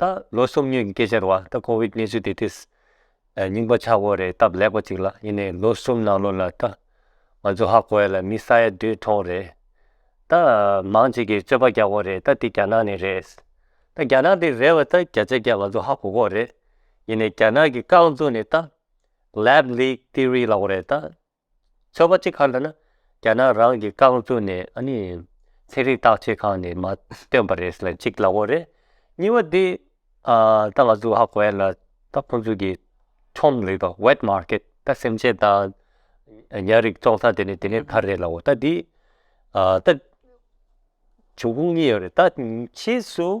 ད་ལོ་སོམ་ཉིའི་སྐད་ཆར་བ་ད་ཀོ་བིད་གནས་ཚུལ་དེ་དེས་རྙིང་པ་ཆགས་འོ་རེད་སྟབས་ལེགས་པ་ཅིག་ལ་ཡིན་ནའི་ལོ་གསུམ་ནང་ལོ་ལ་ད་ང་ཚོ་ཧ་གོ་ཡ་ལ་མི་ས་ཡ་བདུན་ཐོང་རེད་ད་མང་ཅིག་གིས་རྩོད་པ་རྒྱག་འོ་རེད་ད་དེ་རྒྱ་ནག་ནས་རེད་ད་རྒྱ་ནག་དེ་རེད་བ་ད་རྒྱ་ཆ་རྒྱ་ང་ཚོ་ཧ་གོ་གོ་རེད་ཡིན་ནའི་རྒྱ་ནག་གི་རྐང་བཙུགས་ནས་ད Lab Leak Theory ལ་འོ་རེད་ད། ཚོད་པ་ཅི་ག་ལ་ན་རྒྱ་ནག་རང་གི་རྐང་བཙུགས་ནས་ཨ་ནི་ཚན་རིག་བརྟག་དཔྱད་ཁང་ནས་མ་བཏོན་པ་རེད་ལ་གཅིག་ལག་འོག་རེད། གཉིས་པ་དེ་ད་ང་ཚོ་ཧ་གོ་ཡ་ལ་ད་ཁོང་ཚོ་གི་ཁྲོམ་རེད་པ Wet Market ད་སེམས་ཅན་དང་ཉྭ་རིགས་བཙོང་ས་དེ་ནས་དེ་ནས་ཁ་རེད་ལ་འོ་ད་དེ་ད་བྱུང་ཁུངས་གཉིས་ཡོད་རེད་ད་ཕྱིས་སུ།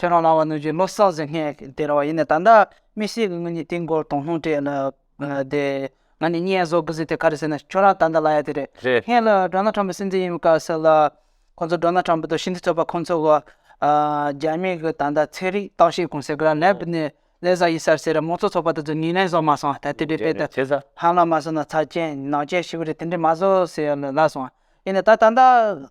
ཁྱོད་རང་ལ་བ་ནུ་ཇི་ལོ་སག་ཟིག་སྔས་དེ་ར་བ་ཡིན་ནའི་ད་ལྟ་མི་སེ་གི་ངུ་ཉི་ཏིང་གོར་དོང་སློང་སྤྲད་ལ་དེ་ང་ནི་བསྙད་བཟོ་གི་ཟིག་དེ་ག་རེ་ཟེར་ནས་ཁྱོད་རང་ད་ལྟ་ལ་ཡ་དེ་རེད་རེད། སྔས་ལ་འགྲོ་ན་ཁྲམ་པ་སེ་འཛིན་ཡིན་མི་དཀའ་ཟེར་ལ་ཁོང་ཚོ་འགྲོ་ན་ཁྲམ་པ་དང་ཤིན་ཏི་རྩོད་པ་ཁོང་ཚོ་གོ་རྒྱ་མི་གི་ད་ལྟ་ཚེ་རིག་རྟགས་ཤེས་གོང་ཟེར་གི་རང་ལས་པི་ནི་ལས་བཟའ་ཡིན་སར་ཟེར་རེད་མོ་ཚོ་ཚོགས་པ་དེ་ཚོ་ཉིན་རེ་བཟོ་མ་སོང་ད་དེ་འདྲའི་དཔེ་དེབ་ཧམ་ལ་མ་བཟོ་ན་ཚ་ཅན་ནང་ཅན་ཞིག་གི་རེད་དེ་འདྲའི་མ་བཟོ་ཟེར་ལ་ལ་སོང་ཡིན་ནའི་ད་ད་ལྟ་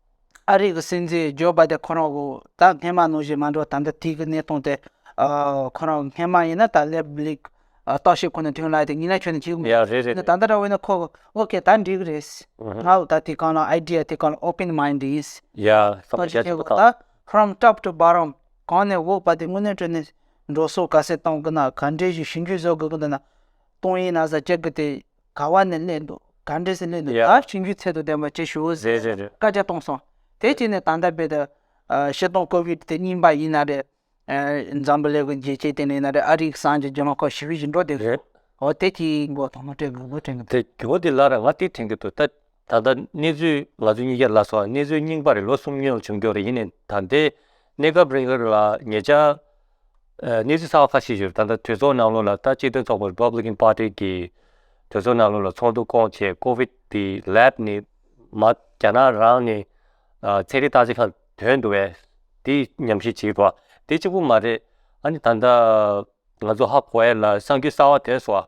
ཨ་རིག་གི་སྲིད་འཛིན་ཇོ་བྷ་དེ་ཁོ་རང་ད་སྔས་མ་ནོར་བཞིན་མ་འགྲོ་ད་ལྟ་དུས་ཀྱི་གནས་སྟངས་དེ། ཁོ་རང་སྔས་མ་ཡིན་ན་ད་སླེབས་ལེགས། རྟོག་ཞིབ་ཁོ་ནས་ཐོན་ལ་དེ་ཉིན་ལ་ཁྱོད་ནས་ཁྱེའུ། ཡ་རེད་རེད། ད་ལྟ་འདྲ་བས་ན་ཁོ་ཨོ་ཁེ་ད་འགྲིག་རེད། ང་ལ་ད་དེ་གང་ལ idea དེ་གང་ལ open mind ཡིན། ཡ་བསམ་བྱ་ཆེན་པོ་དང། From top to bottom གང་ནས་འོག་བར་དེ་དངོས་གནས་ཁྲོད་ནས་འགྲོ་སོང་ག་ཚད་གཏོང་གི་ན་ག་འདྲས་ཞིག་ཞིབ་འཇུག་བཟོ་དགོས་ཀྱི་འདུག་ན། གཏོང་ཡིན་ན་བཟའ་བཅའ་གི་དེ་ག་བ་ནས་གླེང་འདུག་ག་འདྲས་སུ་གླེང་འདུག་ད་བྱིན་རྒྱུའི་ཚད་དུ་ལྡན་པ་བྱེད་ཞུ་ཟེར་ནས་བཀའ་རྒྱ་གཏོང་སོང། དེ་རྗེས་ནས་ད་ལྟ་རྦད་དེ། ཤི་སྟོང་ཀོ་བིད་དེ་གཉིས་པ་ཡིན་ན་རེད། འཛམ་བུ་ལེགས་རྒྱལ་སྤྱིའི་སྟེང་ནས་ཡིན་ན་རེད་ཨ་རིའི་གསང་རྒྱ་རྒྱལ་མ་ཁོ་ཞི་བའི་བཞིན་འགྲོ་བསྡད་འདུག་འོ་དེ་དེའི་མགོ་ཐོག་མ་སྤྲད་དགོས་མགོ་དྲན་གི་འདུག། དེ་གྱོ་དེ་ལ་ར་ང་དེ་དྲན་གི་འདུག་ད། ད་ལྟ་གནས་ཚུལ་ང་ཚོས་གཉིས་ཀྱིས་ལ་སོགས་གནས་ཚུལ་རྙིང་པ་རེད་ལོ་གསུམ་ཉོན་བྱུང་འགྱོར་ཡིན་ནས་ད་ལྟའི་གནས་སྐབས་རིང་ལ་ངེད་ཅག་གནས་ཚུལ་གསར་བ་ཁ་ཤས་ཞིག་རེད་ད་ལྟ་གྲོས་ཚོགས་ནང་ལོགས་ལ་ལྟ་སྤྱི་མཐུན་ཚོགས་པ Republican Party གི་གྲོས་ཚོགས་ནང་ལོགས་ལ་ཚོགས་འདུ་བསྐོང་ཆེད COVID དེ Lab ནས་མ་རྒྱ་ནག་རང་ནས་ཚན་རིག་བརྟག་དཔྱད་ཁང་དོན་འདུག་བས་དེ་ཉམས་ཞིབ་བྱེད་དགོས་བ་དེ་གཅིག་པུ་མ་རེད་ཨ་ནི་ད་ལྟ་ང་ཚོ་ཧ་གོ་ཡས་ལ་གསང་རྒྱུ་གསར་བ་དེ་སོགས་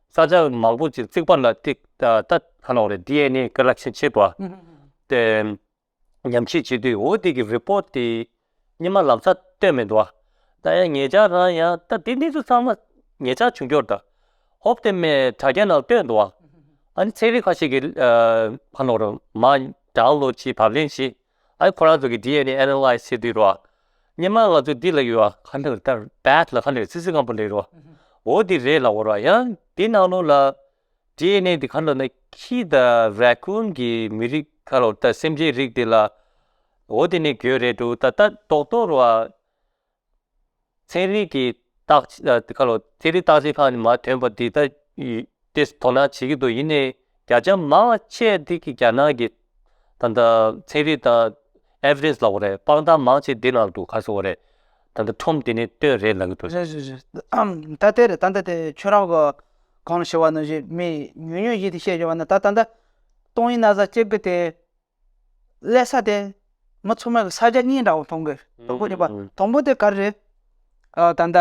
ས་ཆ་མང་པོ་ཅིག་བརྩིགས་པ་ལ་ཐིག་རྟ་ག་ལ་བ་རེད DNA Collection བྱེད་པ། དེ་ཉམས་ཞིབ་བྱེད་དུས་འོ་དེ་གི Report དེ་ཉི་མ་ལམ་ས་སྟོན་མི་འདུག་ད་ཡང་ངེད་ཅག་རང་ཡང་ད་དེ་གནས་ཚུལ་ཚང་མ་ངེད་ཅག་བྱུང་འབྱོར་དང་ཧོབ་དེ་མའི་དྲ་རྒྱ་ནང་སྟོན་འདུག་ཨ་ནི་ཚན་རིག་ཁ་ཤས་ཀྱི་ག་ལ་བ་རུ་མ Download བྱེད་བབ་ལེན་བྱེད་ཨའི་ཁོ་རང་ཚོ་གི DNA Analyze བྱེད་དུས་རོ། སྙེ་མ་ང་ཚོ་འདི་ལ་ཡོད། ཁ་ནང་ལྟར Bath ལ་ཁ་ནང་སིལ་སིལ་སྐམ་པོ་ལེ་རོ། འོ་འདི་རེད་ལ་འོ་རོ་ཡང་འདི་ནང་ལོ་ལ། DNA འདི་ཁ་ལོ་ན་ཁྱི་དང Raccoon གི་མི་རིགས་ཁ་ལོ་ད་སེམས་ཅན་རིགས་འདི་ལ། འོ་འདི་ནི་གྱོད་རེད་འདུག་ད་ལྟ་རྡོག་རྡོག་རོ། ཚན་རིག་གི་བརྟག་དཔྱད་ཁག་ལ་ཚན་རིག་བརྟག་དཔྱད་ཁག་ནི་མ་ཐོན་པ་འདི་ལྟར་དེས་དོ་སྣང་བྱེད་ཀྱི་འདུག་ཡིན་ནའི་བརྒྱ་ཆ་མང་ཆེ་འདི་གི་རྒྱ་ནག་གི་ད་ལྟ་ཚན་རིག་དང Evidence ལ་བ་རེད་དཔང་རྟགས་མང་ཆེ་འདི་ནང་དུ་ག་ཚོད་བ་རེད་ད་ལྟ་ཁྲོམ་དེ་ནས་བཏོན་རེད་ལབ་ཀྱི་འདུག། རེད་རེད་རེད་ད་དེ་རེད་ད་ད་དེ་ཁྱོད་རང་གི་གང་ཞེས་བ་ནི་བཞིན་མི་ཉུང་ཉུང་བཞིན་དེ་བཤད་བཞིན་བ་ནི་ད་ད་ད་སྟོང་ཡིན་ན་བཟའ་སྐྱེ་གི་དེ་ཀླད་ས་དེ་མི་ཚོ་མོད་ས་རྒྱ་གཉིས་འདྲ་བོ་མཐོང་གི་དང་པོ་ནི་པ་དང་པོ་དེ་ག་རེད། ཨ་ད་ལྟ་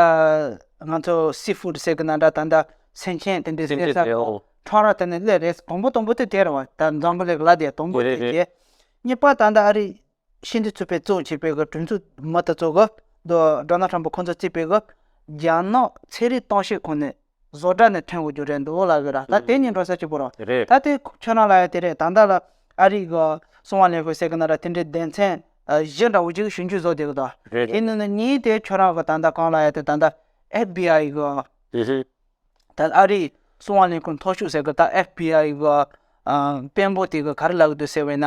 ང་ཚོ་སི་ཧྥུ་ཏུ་ཟེར་གི་ན་འདྲ་ད་ལྟ་སེང་ཆེན་དེ་འདྲའི་ཀླད་ས་ཁྲ་ར་དེ་ནི་ཀླད་རེད་དང་པོ་དང་པོ་དེ་དེ་རེད་བ་ད་འཛམ་བུ་ལེགས་ལ་དེ་དང་པོ་དེ་རེད། གཉིས་པ་ད་ལྟ་ཨ་རི་ཤིན་ཏུ་ཚུད་པའི་གཙོ་བྱས་པའི་གྲོས་ཚོགས་མི་དེ་ཚོ་གི་ད་ཏྲོ་ན་ཁྲམ་པོ་ཁོང་ཚོ་བརྩིས་པའི་གི་རྒྱ་ནག་ཚེ་རིང་ཏང་ཤེས་ཁོ་ནས་བཟོ་གྲྭ་ནས་ཐོན་གོ་རྒྱུ་རེད་འདུག་ལབ་ཡོད་ར་ད་དེ་གཉིས་འགྲོ་ས་ཅིག་པོ་ར་རེད་ད་དེ་ཁྱོད་རང་ལ་ཡ་དེ་རེད་ད་ལྟ་ལ་ཨ་རིག་གི་སྲུང་བ་ལེགས་ཤོས་ཟེར་གི་ན་ར་དེ་འདྲའི་སྡེ་མཚན་གཞི་འདྲ་བོ་ཅིག་གཞུང་གིས་བཟོ་བསྡད་གི་འདུག་རེད་རེད་དེ་ནི་ནི་གཉིས་དེ་ཁྱོད་རང་གི་ད་ལྟ་གང་ལ་ཡ་དེ་ད་ལྟ FBI གི་ཧི་ཧི་ད་ཨ་རིག་སྲུང་བ་ལེན་ཁུལ་མཐོ་ཤོས་ཟེར་གི་ད FBI གི་དཔོན་པོ་དེ་གི་ག་རེ་ལབ་གི་འདུག་ཟེར་བས་ན་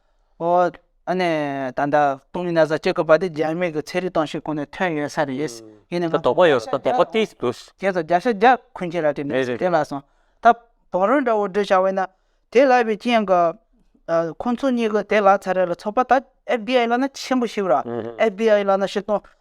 འོ་ཨ་ནི་ད་ལྟ་སྟོང་ཉིད་ན་བཟའ་སྤྱོད་སྐོར་པ་དེ་རྒྱ་མིག་གི་ཚན་རིག་སྟོང་ཤུགས་སྐོར་ནས་ཐོན་ཡོད་ས་རེད། ཡིན་ནའང། དོགས་པ་ཡོད་ས་དོགས་པ་ཏིས་འདུག། རྒྱལ་ཚོགས་རྒྱ་ཤ་རྒྱ་འཁུན་ཁྱེད་ལ་དྲིས་ནས་དེ་ལ་སོང། ད་བང་རོལ་འདྲ་བོ་འབྲི་བྱ་བས་ན། དེ་ལབ་པའི་རྐྱེན་གྱི། ཁོ་ཚོ་གཉིས་ཀྱི་དེ་ལག་ཚ་རེ་ལ་ཚོགས་པ་ད FDI བླ་ན་ཆེན་པོ་ཞིག་ར། FDI བླ་ན་ཤི་སྟོང།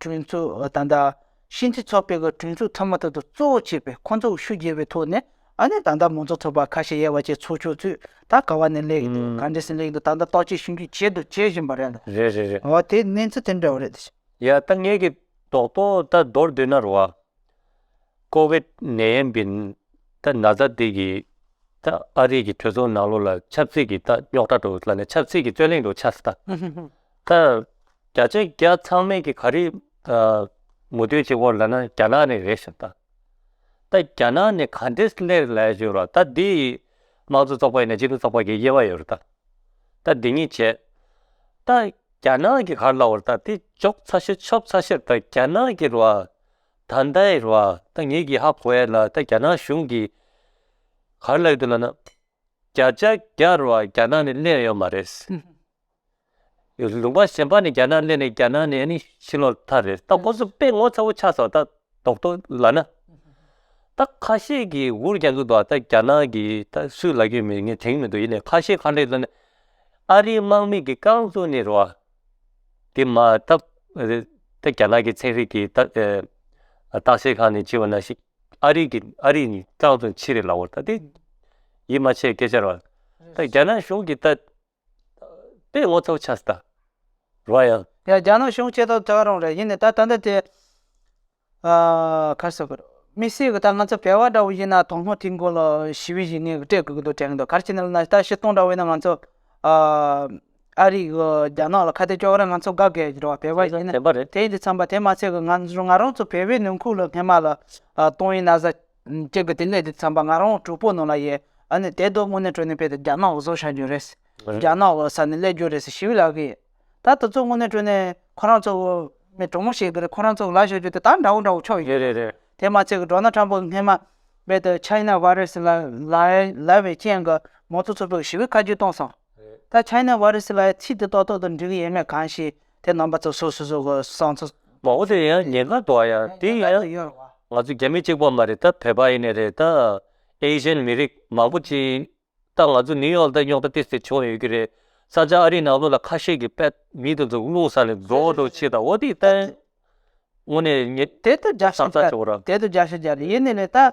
གྲོས་ཚོགས་དང་དང་ཕྱིན་སྤྱི་ཚོགས་སྤེལ་སྐབས་གྲོས་ཚོགས་ཐ་མ་དག་ཏུ་གཙོ་བོ་བྱས་པའི་ཁོ་ཚོར་ཤུགས་རྒྱས་པའི་ཐོག་ནས་ཨ་ནེ་དང་དང་མང་ཚོགས་ཚོགས་པ་ཁ་ཤས་ཡལ་བ་བཅས་ཚོགས་ཆོག་ཚུལ་ད་ག་བ་ནས་ལེགས་འདུག་ག་འདྲས་སུ་ལེགས་འདུག་ད་ལྟ་རྟོག་དཔྱོད་ཞིབ་འཇུག་བྱེད་དུ་བྱེད་བཞིན་པ་རེད་ལ། རེད་རེད་རེད། འོ་དེ་གནས་ཚུལ་དེ་འདྲ་བོ་རེད། ཡ་ད་ངེད་ཀྱི་རྡོག་རྡོག་ད་རྡོར་འདོད་ན་རུ་བ། ཀོ་བེད་ནད་ཡན་པིན་ད་ན་ཚ་འདི་གི་ད་ཨ་རིག་གི་གྲོས་ཚོགས་ནང་ལོ་ལ་ཆབ་སྲིད་གི་ད་རྙོག་དྲ་དྲུག་ལ་ནས་ཆབ་སྲིད་གི་རྩོད་གླེང་དྲུག་ཆགས་སྲིད་ད། ད་བརྒྱ་ཆ་བརྒྱ་ཚང་མེད་ཀྱི་ག་རེ་མུ་མཐུད་ཅིག་བོར་ལ་ན་རྒྱ་ནག་ནས་རེད་ཞིག་ད་ད་རྒྱ་ནག་ནས་ག་འདྲེ་སླེར་ལ་ཞིག་རོ་ད་འདི་ཡིས་དམངས་གཙོ་ཚོགས་པ་ཡིན་ན་སྤྱི་འཐུས་ཚོགས་པ་གི་དབྱེ་བ་ཡོད་རོ་ད་ད་འདི་གཉིས་བྱས་ད་རྒྱ་ནག་གི་གར་ལ་བོར་ད་དེ་འཇོག་ཚ་ཤེར་ཆོབ་ཚ་ཤེར་ད་རྒྱ་ནག་གི་རོ་ད་ད་ཡི་རོ་ད་ངེད་ཀྱི་ཧ་གོ་ཡ་ལ་ད་རྒྱ་ནག་གཞུང་གི་གར་ལ་ཡོད་དུ་ལ་ན་བརྒྱ་ཆ་བརྒྱ་རོ་རྒྱ་ནག་ནས་སླེར་ཡོད་མ་རེད། ལུང་པ་གཞན་པ་ནི་རྒྱ་ནག་གླེང་ནས་རྒྱ་ནག་ནས་ནི་ཕྱི་ལོག་ཐ་རེད་ད་ཁོང་ཚོ་དཔེ་ངོ་ཚ་བོ་ཆགས་སོང་ད་རྡོག་ཐོ་ལ་ན་ད་ཁ་ཤས་ཀྱི་འུར་རྒྱག་གི་འདུག་ད་རྒྱ་ནག་གི་ད་སུས་ལ་རྒྱུས་མེད་ངས་དེང་མི་འདུག་ཡིན་ནའི་ཁ་ཤས་ཁ་འབྲས་ལ་ནི་ཨ་རིའི་དམག་མི་གི་རྐང་བཙུགས་ནས་རོ་དེ་མ་ད་ད་རྒྱ་ནག་གི་ཚན་རིག་གི་ད་བརྟག་དཔྱད་ཁང་ནས་བྱིས་བ་ན་ཞིག་ཨ་རིའི་གི་ཨ་རིའི་ནི་རྐང་བཙུགས་ཕྱིར་རེད་ལ་འོ་ད་དེ་ཡིད་མ་ཆེས་སྐད་ཆ་རོ་ད་རྒྱ་ནག་གཞུང་གི་ད། པའི་ངོ་ཐོག་ཆ་ད་རོགས་ཡང། ཡང་རྒྱ་ནག་གཞུང་སྤྱི་ཐོག་ད་རོགས་རེད་ཡིན་ནས་ད་ད་འདི་དེ། ཁ་སོ་གོ་མི་སྲིད་གི་ད་ང་ཚོ་བལ་བ་འདྲ་བོ་ཡིན་ན་དོང་སྔོ་དེའི་འགོ་ལ་ཞི་བའི་བཞིན་ངས་སྤྲད་དགོས་ཀྱི་འདུག་དྲན་གྱི་འདུག་གར་ཕྱིན་ན་ལ་ད་ཤི་སྟོང་འདྲ་བོ་ཡིན་ན་ང་ཚོ། ཨ་རིག་གི་རྒྱ་ནག་ལ་ཁ་གཏད་གཅོག་གི་རེད་ང་ཚོ་དགའ་དགའི་རེད་བ་བལ་བ་ཡིན་ན་དེ་ཡིན་དུ་འཚམས་པ་དེ་མ་ཚད་ཀྱི་ང་རང་ཚོ་བལ་བའི་ནང་ཁུག་ལ་སྔན་མ་ལ་ཏོང་ཡིན་ན་ཟ། ཅེས་གི་དེ་ནས་དེ་ཚངས་པ་ང་རང་གྲོགས་པོ་ནང་ལ་ཡེ་ཨ་ནི་དེ་དོག་མོ་ནས་དྲོས་ནས་པེ་ཏི་རྒྱ་ནག་བཟོ་བྱ་རྒྱུ་རེད། རྒྱ་ནག་བཟོ་ས་ནི་ཀླད་རྒྱུ་རེད་ཟེར་ཞི་བི་ལགས་ཀྱིས། ད་ལྟ་ཚོ་དངོས་གནས་དྲོས་ནས་ཁོ་རང་ཚོ་མི་གྲོགས་མོ་ཞིག་གི་རེད་ཁོ་རང་ཚོ་ལ་བྱ་རྒྱུ་དེ་དག་འདྲ་བོ་འདྲ་བོ་ཆོག་ཡོད་རེད། དེ་མ་ཚད་གི་འབྲོག་ན་ཁྲམ་པོ་སྔས་མ་རྦད་དེ China Virus ལ་ལ་བའི་རྐྱེན་གི་མོ་ཚོ་ཚོ་པོ་གི་ཞི་བི་ཁ་རྒྱུ་གཏོང་སོང། ད China Virus ལ་ཡའི་ཚིག་དེ་ཏོག་ཏོག་ཏུ་འབྲི་གི་ཡེ་མེད་གང་ཞིག་དེ་རྣམ་པ་ཚོ་སོ་སོ་སོ་གོ་སང་ཚོ། མ་འོ་དེ་ཡང་ཉེན་ཁ་འདུག་ཡ་དེ་ཡང་ང་ཚོ་རྒྱ་མི་གཅིག་པོ་མ་རེད་ད་བོད་པ་ཡེ་ནས་རེད་ད Asian མི་རིགས་མང་པོ་གཅིག་ད་ང་ཚོ New York ད་རྙོག་དྲ་ཏི་སེ་བྱུང་ཡོད་ཀྱི་རེད་ས་ཆ་ཨ་རི་ནང་ལོ་ལ་ཁ་ཤས་ཀྱི་པད་མི་དེ་ཚོ་རླུང་ས་ནས་རྫོགས་རྡོ་ཆེ་ད་འོ་དེ་ད་ཡང་དངོས་ནས་ཉེ་དེ་ད་རྒྱ་ཤི་རྒྱ་རེད་དེ་ད་རྒྱ་ཤི་རྒྱ་རེད་ཡེ་ནས་རེད་ད།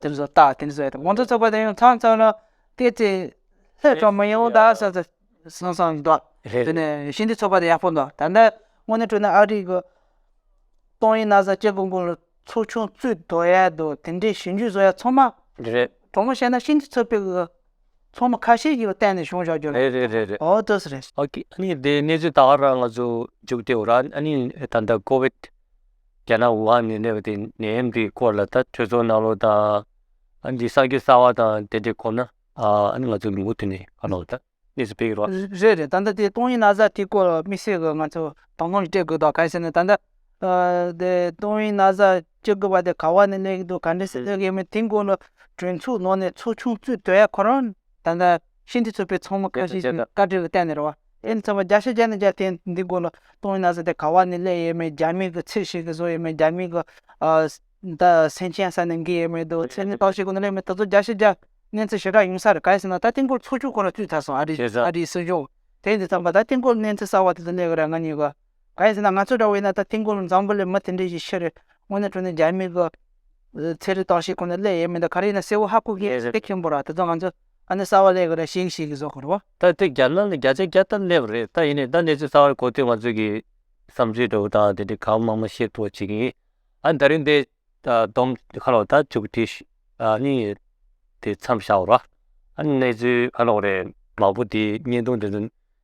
དེ་ཚོ་ལྟ་དེ་ཚོ་ཡོད་དགོང་ཚོགས་ཚོགས་པ་དེ་ཡང་ཚང་ཚང་ལ་དེ་ཚེ་ལྷད་དྲག་མི་ཡོང་ད་ས་ས་སང་སང་འདུག་རེད་དེ་ནས་ཤིན་ཏུ་ཚོགས་པ་དེ་ཡག་པོ་འདུག་ད་ལྟ་དངོས་གནས་སྤྲོ་ན་ཨ་རིག་གི་ཏོང་ཡིན་ན་ས་སྐྱེ་དགོས་དགོས་ལ་ཚོགས་ཆུང་བཙུད་དོ་ཡ་དོ་དེ་འདྲའི་ཞིབ་འཇུག་བཟོ་ཡ་ཚང་མ་རེད་དྲང་མོ་བཤད་ན་ཤིན་ཏུ་ཚོད་དཔེ་གི་ཚོགས་མི་ཁ་ཤས་ཀྱི་བལྟས་ནས་བྱུང་བཞག་རྒྱུ་རེད་རེད་རེད་ཨོ་དོ་ས་རེད། ཨོ་ཁེ་ཨ་ནི་དེ་གནས་ཚུལ་ད་བར་ང་ཚོ་འཇུག་བདེ་བོ་ར་ཨ་ནི་ད་ལྟ་ཀོ་བེད་རྒྱ་ནག་ཝུ་ཧན་ནས་སླེབས་པ་དེ་ནད་ཡམས་དེའི་སྐོར་ལ་ད་ཐོས་ཚོར་གནང་རོགས་དང། འདི་གསར་འགྱུར་གསར་བ་དང་དེ་འབྲེལ་གོམས་ན། ཨ་ནི་ང་ཚོ་ལུང་ཁུག་དེ་ནས་ཧ་ལོག་ད་གནས་སུ་བེད་རོགས། རེད་རེད་ད་ལྟ་དེ་ཏོང་ཡིན་ན་བཟའ་དེའི་སྐོར་དམིགས་བསལ་གྱི་ང་ཚོ་དང་ལུང་སྤྲད་དགོས་དང་ག་ཟེར་ན་ད་ལྟ། དེ་ཏོང་ཡིན་ན་བཟའ་སྤྱོད་དགོས་པ་དེ་ག་བ་ནས་སླེབས་ཀྱི་འདུག་ག་འདྲས་སུ་སླེབས་ཀྱི་ཡོད་མེད་དེའི་སྐོར་ལ་གྲོས་འཚུགས་གནང་ནས་ཚོགས་ཆུང་བཙུད་དོན་ཡག་ཁོ་རང། ད་ལྟ་ཤིན་ཏུ་རྩུབ་པའི་ཚོང་མི་ཁ་ཤས་ཀྱིས་བཀའ་དྲིན་ལ་བལྟས་ནས་རེ་བ་དེ་ནི་ཚོད་དཔག་བརྒྱ་ཤས་བརྒྱ་ནས་བརྒྱ་དེ་འདི་དགོས་ལ་གཏོང་ཡིན་ན་ཟེར་ཏེ་ག་བ་ནས་གླས་ཡས་མས་རྒྱ་མིའི་གི་ཚིག་ཞིག་གིས་བཟོ་ཡས་མས་རྒྱ་མིའི་གི་ད་སེམས་ཅན་ས་ནས་འགི་ཡས་མས་འདུག་ཚེ་ནི་ལྟོགས་ཤིག་གོ་ནས་གླས་མེད་ད་ཚོད་བརྒྱ་ཤས་བརྒྱ་གནས་ཚུལ་ཞེ་དྲག་ཡིན་ས་རེད་ག་ཡིན་ཟེར་ན་ད་དེང་སྐོར་ཚོགས་ཆུང་ཁོ་ན་བཙུད་ཚར་སོང་ཨ་རིའི་ཨ་རིའི་སྲིད་གཞུང་དེ་འདི་ཚང་མ་ད་དེང་སྐོར་གནས་ཚུལ་གསར་བ་དེ་ཚོ་གླས་གི་ར་ང་གཉིས་གི། གང་ཡིན་ཟེར་ན་ང་ཚོ་འདྲ་བོ་ཡིན་ན་ད་ཐེངས་སྐོར་འཛམ་བུ་ལས་མི་དེ་འདྲའི་ཞིག་ཤི་རེད་དངོས་གནས་དྲུང་ནས་རྒྱ་མི་གི། ཚེ་རིལ་བཏང་ཤེས་ཁོ་ནས་སླད་ཡས་མི་འདུག་ག་རེ་ཡིན་ན་སེ་བོ་ཧ་གོ་གི་ཡས་ཟེར་ཏེ་ཁེངས་པོ་ར་ད་དུང་ང་ཚོ་ཨ་ནི་གསར་བ་སླད་གི་ར་ཤིག་ཤིག་གི་བཟོ་དགོས་རོ། ད་དེ་རྒྱ་ནག་ལ་རྒྱ་ཆ་རྒྱ་ལྟར་སླེབས་རེད་ད་ཡིན་ནས་ད་གནས་ཚུལ་གསར་བ་རེ་གོ་དུས་ང་ཚོས་ཀྱི་བསམ་ཚུལ་འདྲ་བོ་དང་དེ་འདྲའི་གང་མང་མང་ཤེས་ཐུབ་པ་བྱེད་ཀྱི་ཡིན་ཨ་ད་རིང་འདི། དོམ་ཁ་ལོ་ད་བཅུག་དེ་ཨ་ནི་དེ་མཚམས་བཞག་རོ། ཨ་ནི་གནས་ཚུལ་ཁ་ལོ་རེ་མང་པོ་དེ་བརྙན་ཐུང་དེ་ཚོ།